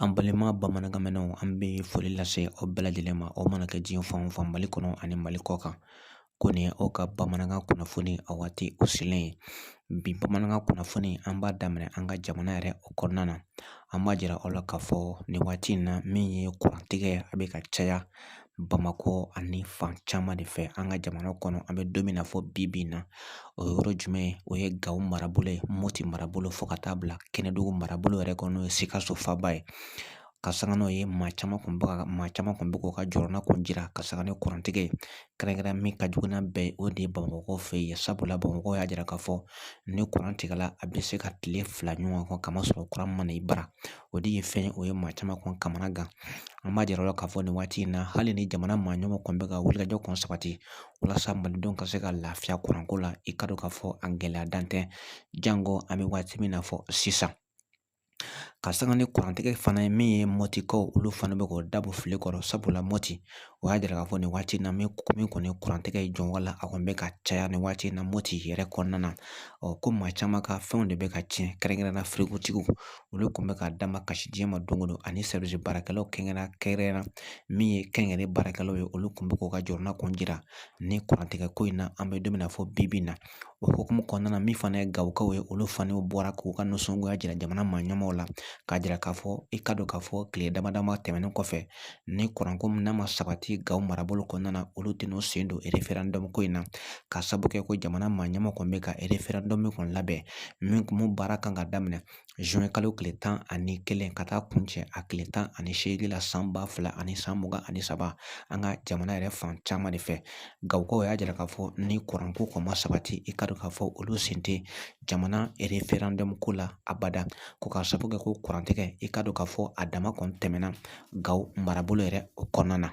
An balima bamanankanmɛnnaw an bɛ foli lase aw bɛɛ lajɛlen ma aw mana kɛ diɲɛ fan o fan mali kɔnɔ ani mali kɔ kan ko nin ye aw ka bamanankan kunnafoni a waati o selen ye bi bamanankan kunnafoni an b'a daminɛ an ka jamana yɛrɛ o kɔnɔna na an b'a jira aw la k'a fɔ nin waati in na min ye kurantigɛ a bɛ ka caya bamakɔ ani fan caman de fɛ an ka jamana kɔnɔ an bɛ don min na fɔ bi bi in na o ye yɔrɔ jumɛn ye o ye gawo marabolo ye mɔti marabolo fo ka taa bila kɛnɛdugu marabolo yɛrɛ kɔnɔ n'o ye sikaso faba ye ka sanga n'o ye maa caman kɔni bɛ ka maa caman kɔni bɛ k'u ka jɔrɔnanko jira ka sanga ni kurantigɛ ye kɛrɛnkɛrɛn min ka jugu n'a bɛɛ ye o de ye bamakɔ fɛ yen sabula bamakɔ y'a jira k'a fɔ ni kuran tigɛla a bɛ se ka tile fila ɲɔgɔn kɛ k'a masɔrɔ kuran ma na i bara o de ye fɛn ye o ye maa caman kɔni kamanagan an b'a jira aw la k'a fɔ nin waati in na hali ni jamana maa ɲɛmaaw kɔni bɛ ka wulikajɔ kɔni sabati walasa malidenw ka se ka lafiya kuranko la i k'a dɔn k'a fɔ a gɛlɛya dan tɛ janko an bɛ waati min na fɔ sisan ka sanga ni kurantigɛ fana ye min ye mɔtikaw olu fana bɛ k'u dabɔ fili kɔrɔ sabula mɔti o y'a jira k'a fɔ nin waati in na min kɔni kurantigɛ ye jɔn wala a kɔni bɛ ka caya nin waati in na mɔti yɛrɛ kɔnɔna na ɔ ko maa caman ka fɛnw de bɛ ka tiɲɛ kɛrɛnkɛrɛnnenya firigotigiw olu kɔni bɛ ka da makasi diɲɛ ma don o don ani baarakɛlaw kɛrɛnkɛrɛnnenya kɛrɛnkɛrɛn na min ye kɛnyɛrɛye baarakɛlaw ye olu kɔni bɛ k'u ka jɔrɔnanko jira ni kurantigɛ ko in na an bɛ don min na fɔ bi bi in na o hukumu kɔnɔna na min fana ye gawokaw ye olu fana bɔra k'u ka nisɔngoya jira jamana maa ɲɛmaaw la k'a jira k'a fɔ i k'a dɔn k'a fɔ kile dama dama tɛmɛnen kɔfɛ ni kuranko min n'a ma sabati gawo marabolo kɔnɔna na olu tɛn'u sen don référendum ko in na ka sabu kɛ ko jamana maa ɲɛmaaw kɔni bɛ ka référendum min kɔni labɛn min kɔni baara kan ka daminɛ kalo tile tan ani kelen ka taa kuncɛ a tile tan ani seegin la san ba fila ani san mugan ani saba an ka jamana yɛrɛ fan caman de fɛ gawokaw y'a jira k'a fɔ ni kuranko kɔni ma sabati i k'a dɔn k'a fɔ olu sen tɛ jamana référendum ko la abada ko ka sabu kɛ ko kurantigɛ i k'a dɔn k'a fɔ a dama kɔni tɛmɛna gawo marabolo yɛrɛ o kɔnɔna na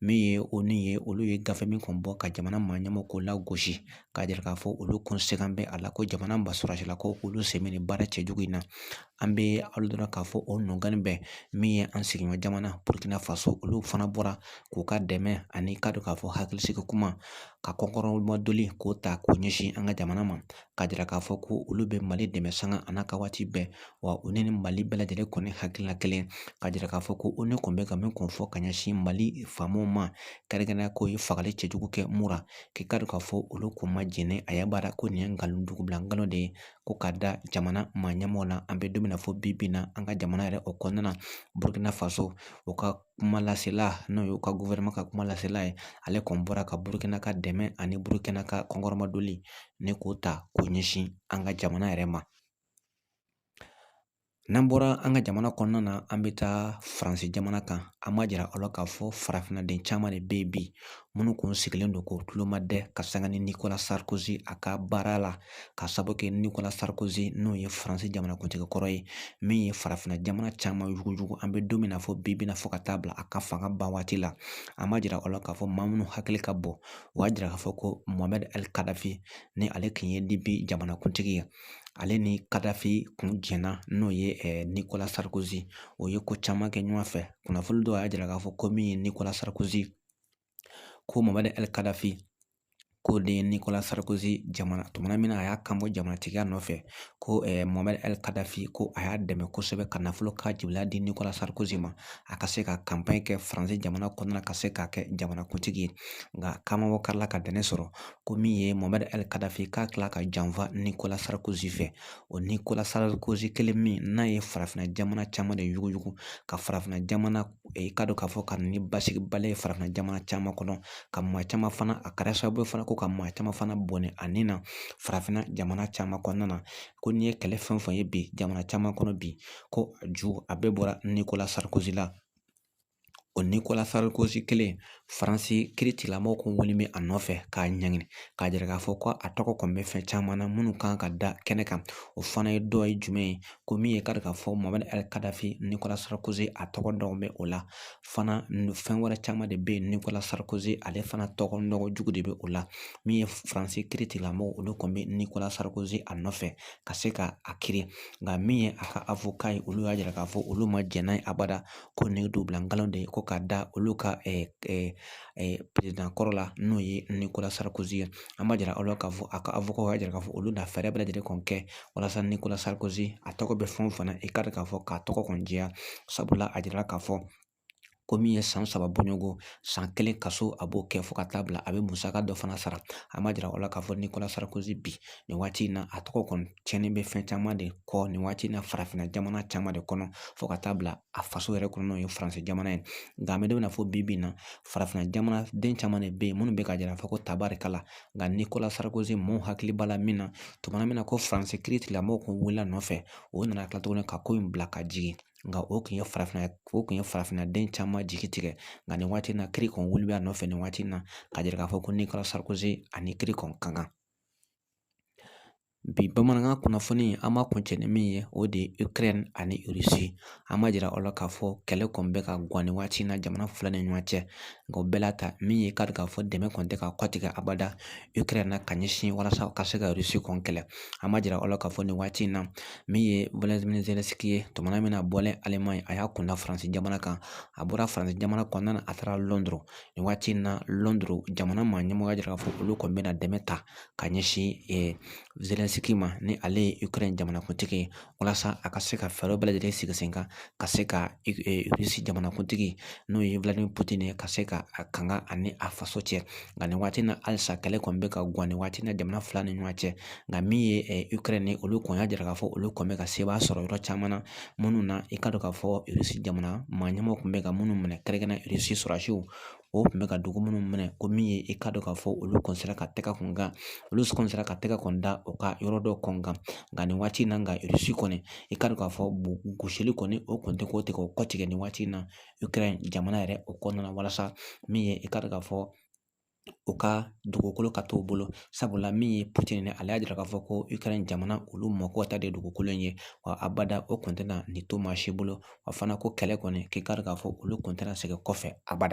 min ye onu ye olu ye gafe min kɔni bɔ ka jamana maa ɲɛmaaw k'u lagosi k'a jira k'a fɔ olu kɔni sɛgɛn bɛ a la ko jamana maa sɔrɔdasiw ko olu sen bɛ nin baara cɛjugu in na an bɛ a dɔn k'a fɔ o nɔgɔni bɛ min ye an sigiɲɔgɔn jamana burukina faso olu fana bɔra k'u ka dɛmɛ an'i k'a dɔn k'a fɔ hakilisigi kuma ka kɔkɔrɔmadon k'o ta k'o ɲɛsin an ka jamana ma k'a jira k'a fɔ ko olu bɛ mali dɛmɛ sanga a n'a ka waati bɛɛ wa u ni mali bɛɛ lajɛlen kɔni hakilina kelen k'a jira k'a fɔ ko onu kun bɛ ka min kun fɔ ka ɲɛsin mali faamaw ma kɛrɛnkɛrɛnnenya k'u ye fagali cɛjugu kɛ mura k'i ka dɔn k'a fɔ olu kun ma jɛn n'a ye abada ko nin ye nkalon dugubila nkalon de ye ko ka da jamana maa ɲɛmɔgɔ la an bɛ don min na fɔ bi bi in na an ka jamana yɛrɛ o kɔnɔna na burukina faso o ka kuma lasela n'o ye u ka gouvernement ka kuma lasela ye ale kɔni bɔra ka burukina ka dɛmɛ ani burukina ka kɔkɔrɔmadoli nin k'o ta k'o ɲɛsin an ka jamana yɛrɛ ma n'an bɔra an ka jamana kɔnɔna na an bɛ taa faransi jamana kan an b'a jira aw la k'a fɔ farafinna den caman de bɛ yen bi minnu kun sigilen don ko tuloma dɛ ka sanga nicolas sarkozy a ka baara la k'a sabu kɛ nicolas sarkozy n'o ye faransi jamanakuntigi kɔrɔ ye min ye farafinna jamana caman yugujugu an bɛ don min na fɔ bi bi na fɔ ka taa bila a ka fanga ban waati la an b'a jira aw la k'a fɔ maa minnu hakili ka bɔ o y'a jira k'a fɔ ko mohamɛd ali kadafi ni ale kun ye libi jamanakuntigi ye ale ni kadafi kun jɛnna n'o ye eh, nicolas sarkozy u ye ko caman kɛ ɲɔgɔn fɛ kunnafoni dɔw y'a jira k'a fɔ ko min ye nicolas sarkozy ko mohamɛd ali kadafi k'o de ye nikola sarikozi dɛmɛ tuma na min na a y'a kanbɔ jamanatigiya nɔfɛ ko mohamɛd ali kadafi ko a y'a dɛmɛ kosɛbɛ ka nafolo ka jibila di nikola sarikozi ma a ka se ka kanpan kɛ faransi jamana kɔnɔna ka se k'a kɛ jamanakuntigi ye nka kamamabɔ ka tila ka dɛmɛ sɔrɔ ko min ye mohamɛd ali kadafi ka tila ka janfa nikola sarikozi fɛ o nikola sarikozi kelen min n'a ye farafinna jamana caman de yuguyugu ka farafinna jamana i k'a dɔn k'a fɔ ka na ni basigibaliya ye farafinna jamana caman kɔnɔ ka maa caman fana a kɛra sababu ye fana ko ka maa caman fana bɔnɛ a ni na farafinna jamana caman kɔnɔna na ko n'i ye kɛlɛ fɛn o fɛn ye bi jamana caman kɔnɔ bi ko a ju a bɛɛ bɔra nikola sarikozi la o nikola sarikozi kelen faransi kiiritigɛlamɔgɔw kun kɔni bɛ a nɔfɛ k'a ɲɛɲini k'a jira k'a fɔ ko a tɔgɔ kɔni bɛ fɛn caman na minnu kan ka da kɛnɛ kan o fana ye dɔ ye jumɛn ye ko min ye kari k'a fɔ mohamɛd kadafi nikola sarikozi a tɔgɔ dɔw bɛ o la fana fɛn wɛrɛ caman de bɛ yen nikola sarikozi ale fana tɔgɔ nɔgɔ jugu de bɛ o la min ye faransi kiiritigɛlamɔgɔw olu kɔni bɛ nikola sarikozi a nɔfɛ ka se ka a kiiri nka min ye a ka avocat ye olu y'a jira k'a fɔ olu ma jɛn n'a ye abada ko nin ye dugubila nkalon de ye ko ka da olu ka président kɔrɔ la n'o ye nikola sarikozi ye an b'a jira aw la k'a fɔ a ka avocat y'a jira k'a fɔ olu na fɛɛrɛ bɛɛ lajɛlen kɔni kɛ walasa nikola sarikozi a tɔgɔ bɛ fɛn o fɛn na i k'a dɔn k'a fɔ k'a tɔgɔ kɔni jɛya sabula a jirala k'a fɔ ko min ye san saba bɔɲɔgɔnko san kelen kaso a b'o kɛ fo ka taa bila a bɛ musaka dɔ fana sara an b'a jira aw la k'a fɔ nikola sarikozi bi nin waati in na a tɔgɔ kɔni cɛnni bɛ fɛn caman de kɔ nin waati in na farafinna jamana caman de kɔnɔ fo ka taa bila a faso yɛrɛ kɔnɔ n'o ye faransi jamana ye nka an bɛ don min na fɔ bi bi in na farafinna jamana den caman de bɛ yen minnu bɛ ka jira k'a fɔ ko tabarikala nka nikola sarikozi maaw hakili b'a la min na tuma min na ko faransi kiirilamɔgɔw kun wulila nɔfɛ o nana tila tuguni ka ko in bila ka jigin nka o tun ye farafinna o tun ye farafinna den caman jigi tigɛ nka nin waati in na kiiri kɔni wuli bɛ a nɔfɛ nin waati in na ka jira k'a fɔ ko nikola sarikozi ani kiiri kɔni ka kan bi bamanankan kunnafoni an b'a kuncɛ ni min ye o de ye ikɛrɛn ani irisi an b'a jira aw la k'a fɔ kɛlɛ kɔni bɛ ka gan nin waati in na jamana fila ni ɲɔgɔn cɛ nka o bɛɛ la ta min ye k'a dɔn k'a fɔ dɛmɛ kɔni tɛ ka kɔtigɛ abada ikɛrɛn na ka ɲɛsin walasa ka se ka irisi kɔni kɛlɛ an b'a jira aw la k'a fɔ nin waati in na min ye volodimiri zelɛnsiki ye tuma min na bɔlen alimaɲi a y'a kun da faransi jamana kan a bɔra faransi jamana kɔnɔna a taara lɔnduru nin waati in na lɔnduru jamana maa ɲɛmɔgɔ y'a jira k'a fɔ olu kɔni bɛna dɛmɛ ta ka ɲɛsin zelɛnsiki ma ni ale ye ikɛrɛn jamanakuntigi ye walasa a ka se ka fɛɛrɛ bɛɛ lajɛlen sigi sen kan ka se ka irisi jamanakuntigi n'o ye viladimiri putini ye ka se ka a kanga ani a faso cɛ nka nin waati in na halisa kɛlɛ kɔni bɛ ka gan nin waati in na jamana fila ni ɲɔgɔn cɛ nka min ye ikɛrɛn ye olu kɔni y'a jira k'a fɔ olu kɔni bɛ ka sebaaya sɔrɔ yɔrɔ caman na minnu na i ka dɔn k'a fɔ irisi jamana maa ɲɛmaw tun bɛ ka minnu minɛ kɛrɛnkɛrɛnnen irisi sɔrɔdasiw o tun bɛ ka dugu minnu minɛ ko min ye i ka dɔn k'a fɔ olu kɔni sera ka tɛgɛ kun kan olu kɔni sera ka tɛgɛ kɔni da u ka yɔrɔ dɔ kɔni kan nka nin waati in na nka irisi kɔni i ka dɔn k'a fɔ gosili kɔni o kɔni tɛ kɔtigɛ o kɔtigɛ nin waati in na ikɛrɛn jamana yɛrɛ o kɔnɔna na walasa min ye i ka dɔn k'a fɔ u ka dugukolo ka t'u bolo sabula min ye putini ye ale y'a jira k'a fɔ ko ikɛrɛn jamana olu mako ta de dugukolo in ye wa abada o kun tɛna nin to maa si bolo wa fana ko kɛlɛ kɔni k'i k'a dɔn k'a fɔ olu kun tɛna segin kɔfɛ abada